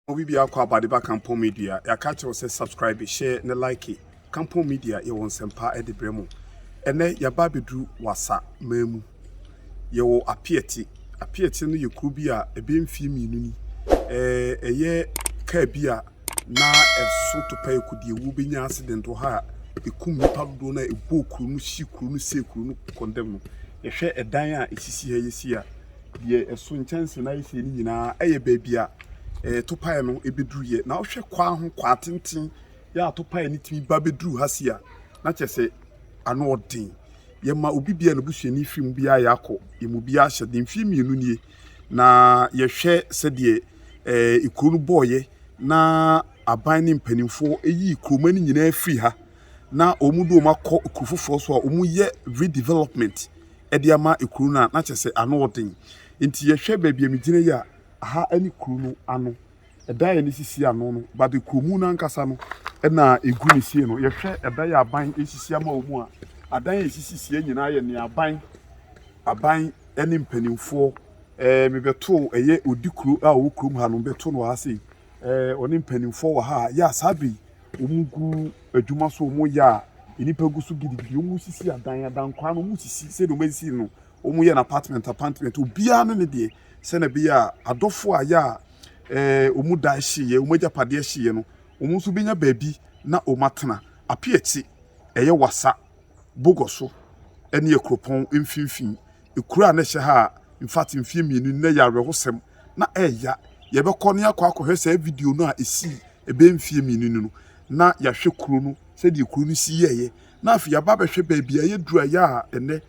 Obi bia kɔ abade ba kampɔn media yaka akyerɛ wo sɛ subscribe share ne like kampɔn media yɛwɔ nsɛmpa de brɛ mo ɛnɛ yaba abɛduru wasa man mu yɛwɔ apiɛte apiɛte no yɛ kuro bi a ɛbɛ mfie mmienu ni ɛyɛ kaa bi a na ɛso topa ɛkɔ deɛ wuo bɛnya accident wɔ ha a ɛkum nipa dodoɔ no a ɛbɔɔ kuro no hyi kuro no sɛ kuro no kɔndɛm no yɛhwɛ ɛdan a ɛsisi ha yɛsi a Deɛ ɛso nkyɛnse no ayɛ fie no nyinaa yɛ baabi a eh, topaeɛ no bɛduruiɛ na wohwɛ kwaa ho kwaa tenten yɛ a topaeɛ no tumi ba bɛduru ha si a na kyerɛ sɛ ano ɔden yɛma obi bia no busuani firi mu biara yɛ akɔ yɛmu biara ahyɛ de mfie mmienu nie na yɛhwɛ sɛdeɛ eh, kuro no bɔɔyɛ na aban ne mpanimfoɔ yii kuroma no nyinaa firi ha na wɔn de wɔn akɔ kuro foforɔ so a wɔyɛ redevelopment de ama kuro no a, na kyerɛ sɛ ano yɛ den. Enti yɛhwɛ baabi a megyina yi a, aha ne kuro no ano. Ɛdan a yɛde sisi ano no, but kuro mu no ankasa no na ɛgu ne sie no. Yɛhwɛ ɛdan a aban sisi ama wɔn a, adan a ɛsisisiiɛ nyinaa yɛ nea aban, aban ne mpanimfoɔ eh, mebɛtoo ɛyɛ ɔdi kuro a ɔwɔ kurom ha no, mebɛtoo no wɔ ha sei. Ɛɛ ɔne mpanimfoɔ wɔ ha a, yɛ a saa bɛ yi wɔn gu adwuma so wɔn yɛ a nnipa gu so gidigidi wɔn sisi adan adan kwan no wɔn sisi sɛdeɛ wɔn sisi no wɔn yɛ no apartment apartment obiara ne ne deɛ sɛdeɛ ɛbɛyɛ a adɔfoɔ a yɛ a ɛɛ wɔn da ɛhyeeɛ wɔn agyapadeɛ ɛhyeeɛ no wɔn nso bɛnya baabi na wɔn atena ape akyi ɛyɛ wasa bogɔ so ɛne akuropɔn mfimfini ekuro a na ɛhyɛ ha a in fact mfie mmienu na yɛ awerɛhosɛm na ɛɛya. Yɛbɛkɔ na yɛakɔ akɔhwɛ saa video no a ɛsii ɛbɛyɛ mfeɛ mmienu ni no, na yɛahwɛ kuro no, sɛdeɛ kuro no si yɛeɛ, na afei yɛaba abɛhwɛ baabi a yɛduru ayɛ a ɛnnɛ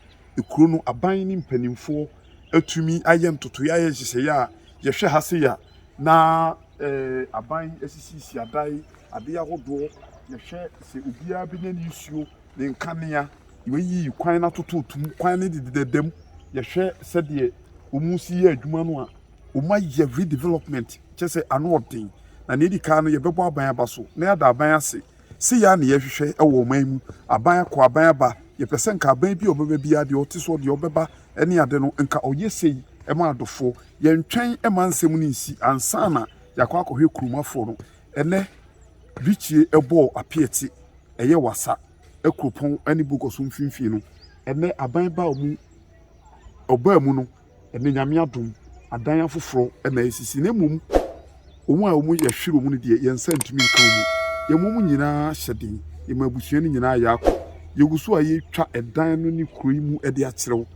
kuro no aban ne mpanimfoɔ atumi ayɛ ntotoeɛ ayɛ nhyehyɛeɛ a yɛhwɛ ha sei a na eh, aban asisisi adan adeɛ ahodoɔ yɛhwɛ sɛ obiara bɛnya ne nsuo ne nkanea. Wɔayiyi kwan no atototo mu. Kwan no dedadeda mu. Yɛhwɛ sɛdeɛ wɔresi yɛ adwuma no a, wɔayɛ redevelopment, kyerɛ sɛ ano yɛ den. Na deɛ ɛdi kan no, yɛbɛbɔ aban aba so na yɛada aban ase. Sei ara na yɛhwehwɛ wɔ ɔman mu. Aban akɔ, aban aba. Yɛpɛ sɛ nka aban bi a ɔbɛba biara, deɛ ɔte soɔ, deɛ ɔbɛba ne ade no, nka ɔyɛ sei ma adofoɔ. Yɛntwɛn mma nsɛm no nsi ansa na yɛakɔ akɔhwɛ kurom afoɔ no. Ɛnnɛ, Richie bɔɔ apeati ɛyɛ Wassa kuropɔn ne Bogoso mfimfini no. Ɛnnɛ, aban baa mu, ɔbaa mu no, ɛnnɛ Nyame adom, adan afoforɔ na asisi na mmom wɔn a wɔn yɛhwere wɔn no deɛ yɛn nsa ntumi nka wɔn mu. Yɛma wɔn nyinaa hyɛ den, yɛma abusua no nyinaa yɛ akɔ. Yɛgu so a yɛretwa ɛdan no ne kuro yi mu de akyerɛ wo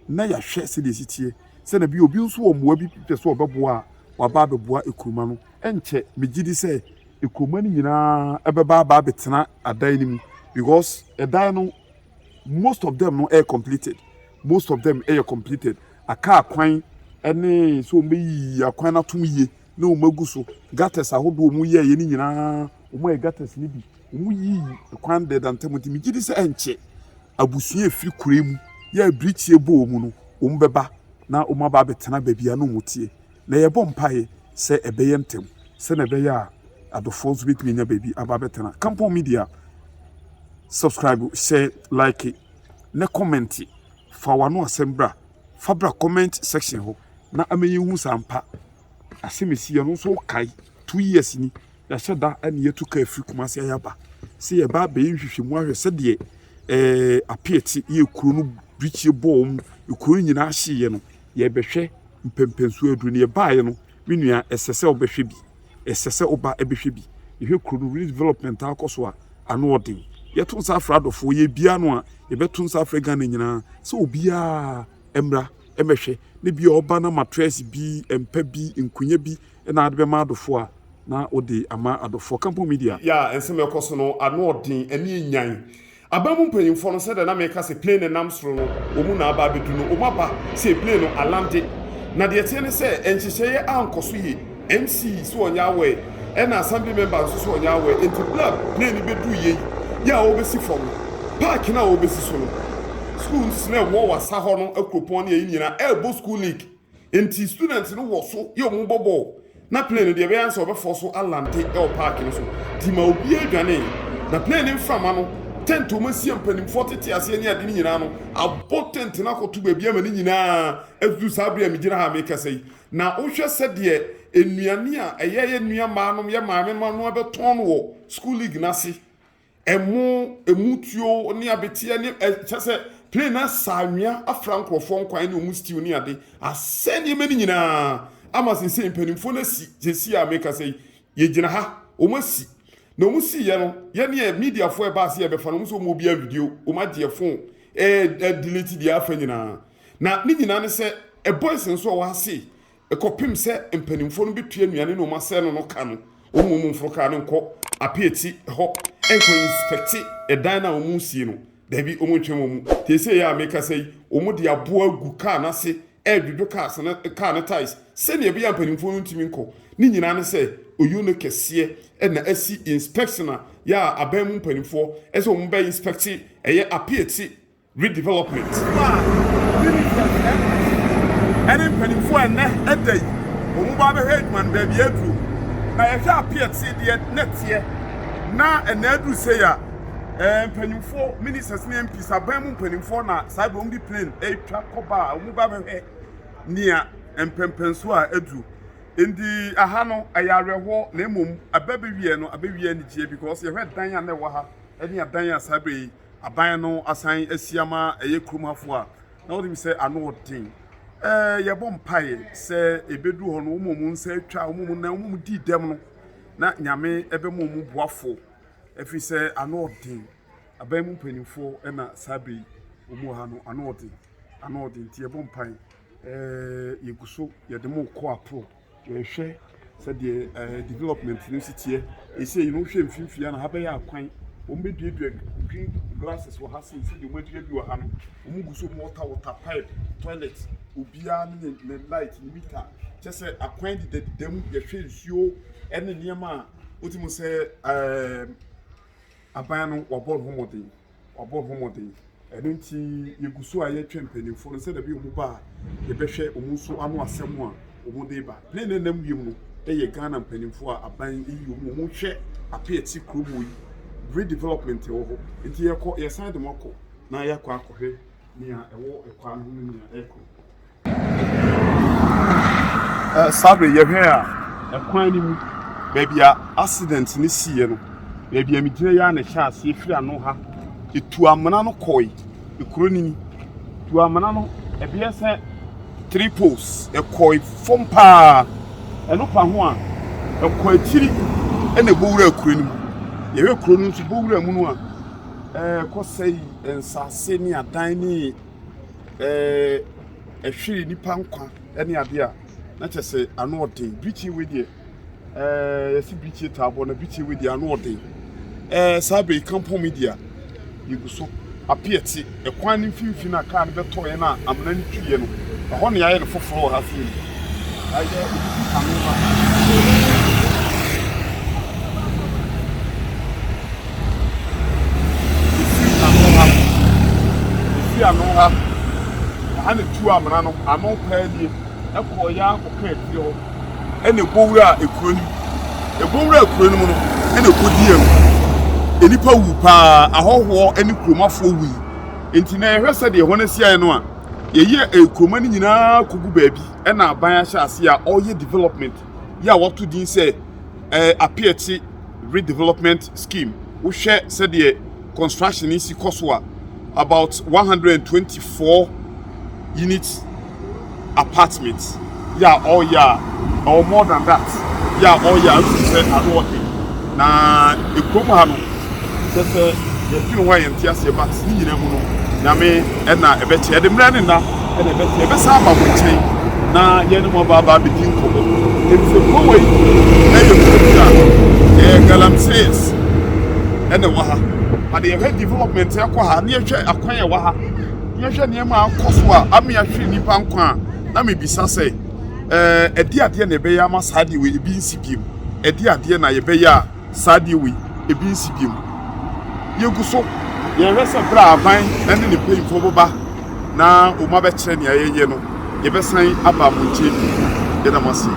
na yɛahwɛ sɛdeɛ ɛsi teɛ. sɛ na bi a obi nso wɔ mmoa bi pɛ sɛ ɔbɛboa a, waba abɛboa ekuruma no. Ɛnkyɛ, megye di sɛ ekuruma no nyinaa bɛba aba abɛtena adan no mu because ɛdan no, most of them no yɛ completed. Most of them yɛ completed. Aka akwan ne sɛ wɔbɛyi akwan no atom yie na wɔagu so. Gutters ahodoɔ a wɔyɛeɛ no nyinaa, wɔayɛ gutters no bi. Woyii kwan dɛɛda ntam nti, megye di sɛ ɛnkyɛ abusua a efi kurow mu yɛ a bere tiaa bɔ wɔn no, wɔbɛba na wɔaba abɛtena baabi a na wɔte, na yɛbɔ mpae sɛ ɛbɛyɛ ntɛm sɛnea ɛbɛyɛ a adɔfoɔ nso betumi anya baabi aba abɛtena. Kampong Media, Subscribe, Share, Like, ne Kɔmɛnte. Fa w'ano asɛm bra, fa bra comment section hɔ na ama yɛnhu sɛ ampa asɛm a ɛsiiɛ no nso wokae, two years ni. Yɛahyɛ da ne yɛatu ka afiri Kumasi ayɛ aba sɛ yɛba abɛyɛ nhwehwɛmu ahwɛ sɛdeɛ eh, apeɛte yɛ kuro no birikyie bɔɔ mu kuro no nyinaa hyeeɛ no yɛbɛhwɛ mpɛmpɛnsuo aduro no yɛbaeɛ no me nua ɛsɛ sɛ wobɛhwɛ bi ɛsɛ sɛ woba ɛbɛhwɛ bi yɛhwɛ kuro no redevelopment akɔ so a ano ɔden yɛto nsa afra adɔfoɔ yɛ bia no a yɛbɛto nsa afra ghana nyinaa sɛ obiaa mmra ɛmɛhwɛ ne bia ɔba no matrɛs bi mpa bi nkonya bi na ade bɛma adɔfoɔ a na ɔde ama adɔfoɔ. Kampo Media. Yɛ a nsɛm a ɛkɔ so no ano ɔden, ani yɛ nyan. Aban mu mpanyimfoɔ no, sɛdeɛ na meka sɛ plane no nam soro no, wɔn mu na aba abɛdu no, wɔn aba sei, plane no alande. Na deɛ ɛteɛ ne sɛ, nhyehyɛeɛ ankɔ so yie. MC sɛ ɔnyɛ aware, ɛna Assembly Member nso sɛ ɔnyɛ aware. Enti berɛ a plane no bɛduu yei, yɛ a wɔrebɛsi fam no, park no a wɔrebɛsi so no, sukuu nso sɛ na ɛwɔ wɔ asa hɔ no, akuropɔn ne yei nyinaa, ɛrebɔ sukuu league. Enti students no wɔ so yɛ wɔn bɔbɔ o, na plane no deɛ ɛbɛyɛ ansa ɔbɛfɔ so alante wɔ park no so. Nti ma obiara dwanee, na plane no mframa no, tent a wɔasie a mpanimfoɔ tete aseɛ ne ade no nyinaa no, abɔ tent no akɔto baabi ama ne nyinaa adudu saa bere a megyina ha a merekasa yi. Na wohwɛ sɛdeɛ nnuane a ɛyɛ yɛn nuammaanom, yɛn maamemma no abɛtɔn no wɔ school league no ase. Ɛmo, ɛmu tuo ne abeteɛ ne ɛ kyɛ sɛ plane no asa anwea afra nkurɔfoɔ nkwan ne wɔn stew ne ade asɛ nneɛma no nyinaa ama sesei mpanimfoɔ no asi sesei a mekasa yi yɛgyina ha wɔn asi na wɔn siiɛ no yɛneɛ mediafoɔ ɛbaa sɛ yɛbɛfa no wɔn sɛ wɔn obi a video wɔn agyeɛ phone ɛɛ delete deɛ afa nyinaa na ne nyinaa ne sɛ boys nso a wɔase Kɔpem sɛ mpaninfoɔ no bɛtua nnuane no wɔn asɛɛ no no ka no, wɔn mmom mforo kaa no nkɔ apeati hɔ nkɔ inspɛkte ɛdan no a wɔn resie no. Daabi, wɔn ntwɛn wɔn mu. Seesei yi a mekasa yi, wɔn de aboɔ agu kaa no ase redwodwo cars no, kaa no tyres sɛdeɛ ɛbɛyɛ a mpaninfoɔ no ntumi nkɔ. Ne nyinaa ne sɛ ɔyuo no kɛseɛ na asi inspɛkte na yɛ a aban mu mpaninfoɔ sɛ wɔn bɛ inspɛkte ɛyɛ apeati Redevelopment no a ne ne nsɛnkyerɛnne kɛse ɛne mpanyimfoɔ a ɛnnɛ ɛda yi wɔn ba abɛhwɛ adwuma no baabi a aduro na yɛhwɛ apeɛt se deɛ na ɛteɛ na ɛnɛ aduru sei a ɛɛ mpanyimfoɔ ministers ne mps aban mu mpanyimfoɔ na saa bɛ wɔn de plane ɛretwa kɔba a wɔn ba abɛhwɛ nea mpɛmpɛnso a aduru nti aha no ɛyɛ awerɛhoɔ na mmom abɛbɛwie no abɛwie anigyeɛ because yɛhwɛ dan a na ɛwɔ ha ɛne adan a saa bɛ yi Aban no asan asi ama ɛyɛ kurom hafo a na wonim sɛ ano yɛ den. Ɛɛ, yɛbɔ mpae sɛ ebedu hɔ no, wɔn a wɔn nsa atwa, wɔn a wɔn nan, wɔn a wɔdii dɛm no, na Nyame bɛma wɔn boafo, efisɛ ano yɛ den. Aban mu mpanyimfo na saa bere yi wɔn wɔ ha no, ano yɛ den, ano yɛ den, nti yɛbɔ mpae. Ɛɛ, yegu so, yɛde mo rekɔ aprɔw. Yɛhwɛ sɛdeɛ ɛɛ development no si teɛ esei no wohwɛ mfimfini ha na ha bɛyɛ akwan wɔn bɛ duadua green glasses wɔ ha sei sɛdeɛ wɔn adua bi wɔ ha no wɔn gu so wɔn wɔta wɔta pipe toilet obiara ne ne light ne mita kyɛ sɛ akwan deda deda mu yɛhwɛ nsuo ɛne nneɛma a wotumi sɛ ɛɛ aban no wɔbɔ ne ho mmɔden. wɔabɔ ho mmɔden. Ɛno nti, yegu so a yɛrehwɛ mpanyimfo no sɛnea ɛbɛyɛ a wɔba a, yɛbɛhwɛ wɔn nso ano asɛm a wɔde reba. Nea na ɛnam wiem no yɛ Ghana mpanyimfo a aban yi yi wɔn a wɔhwɛ ape a ɛte kurom hɔ yi bere development a ɛwɔ hɔ nti. Yɛkɔ, yɛsan de wɔn akɔ na yɛakɔ akɔhwɛ nea ɛwɔ kwaa no ho ne nea ɛrekɔ. Saa bere yɛhwɛe a, kwan no mu, baabi a accident no siiɛ no, baabi a megyina yi ara na ɛhyɛɛ aseɛ, ɛfiri ano ha, ɛtu amena no kɔe, kuro no ni, tu amena no, ɛbɛyɛ sɛ three poles, ɛkɔe fam paa, ɛno pa ho a, ɛkɔ akyiri na ɛbɔ wura kuro no mu. Yɛhwɛ kuro no nso, bɔ wura mu no a, ɛkɔsɛe nsase ne adan ne. ɛhwere nnipa nkwa ne adeɛ a, na kyerɛ sɛ ano yɛ den. Birikyi wei deɛ, yɛsi birikyi taa bɔ na birikyi wei deɛ ano yɛ den. Saa bere yi kampɔn mu deɛ, yɛgu so apia ti. Ɛkwan no mfimfini a kaa no bɛtɔeɛ na amena no tuiɛ no, ɛhɔ na yɛayɛ no foforɔ wɔ ha so yi. Ayɛ obi ano ma. Ofi ano ha. Ofi ano ha. Ɛha na ɛtu amena no ano paa nie. Ɛkɔeɛ ara kɔka akyire hɔ. Ɛna ɛbɔ wura kuro no mu. Ɛbɔ wura kuro no mu no, ɛna ɛkɔdii awu. Nnipa wu paa. Ahɔhoɔ ne kuromafoɔ wui. Nti na yɛhwɛ sɛdeɛ hɔ no asi ayɛ no a, yɛyi kuroma no nyinaa kɔgu baabi. Ɛna aban ahyɛ aseɛ a ɔreyɛ development. yi a wɔato din sɛ ɛɛ Apeatse Redevelopment Scheme. Wohwɛ sɛdeɛ construction yi si kɔ so a, about 124 unit apartment yɛ a ɔreyɛ a, ɛwɔ more than that yɛ a ɔreyɛ a, ɛnhu sɛ ano ɔden. Na kurom ha no, kyerɛ sɛ yɛfiri ho a yɛnte aseɛ but ne nyinaa mu no, Nyame na ɛbɛkyɛ. Yɛde mmerɛ ne nna na ɛbɛkyɛ. Yɛbɛsan aba mo nkyɛn na yɛne mo aba aba abɛdi nkɔmmɔ. Ɛfiri sɛ kuro wei yɛ kuro bi a ɛyɛ galamsees na ɛwɔ ha. But yɛhwɛ development a ɛkɔ ha, na yɛhwɛ akwan a ɛwɔ ha, na yɛhwɛ nneɛma a akɔ so a ama yɛahwere nnipa nkwa a, na mebisa sɛ, ɛdeɛ adeɛ na ɛbɛyɛ ama saa adeɛ wei ebi nsi bio? Ɛde adeɛ na yɛbɛyɛ a saa adeɛ wei ebi nsi biom. Yɛgu so yɛhwɛ sɛ berɛ a aban ne ne mpanyimfoɔ bɛba na wɔabɛkyerɛ nea yɛyɛ no, yɛbɛsan aba mo nkyɛn bio. Yɛda mo ase.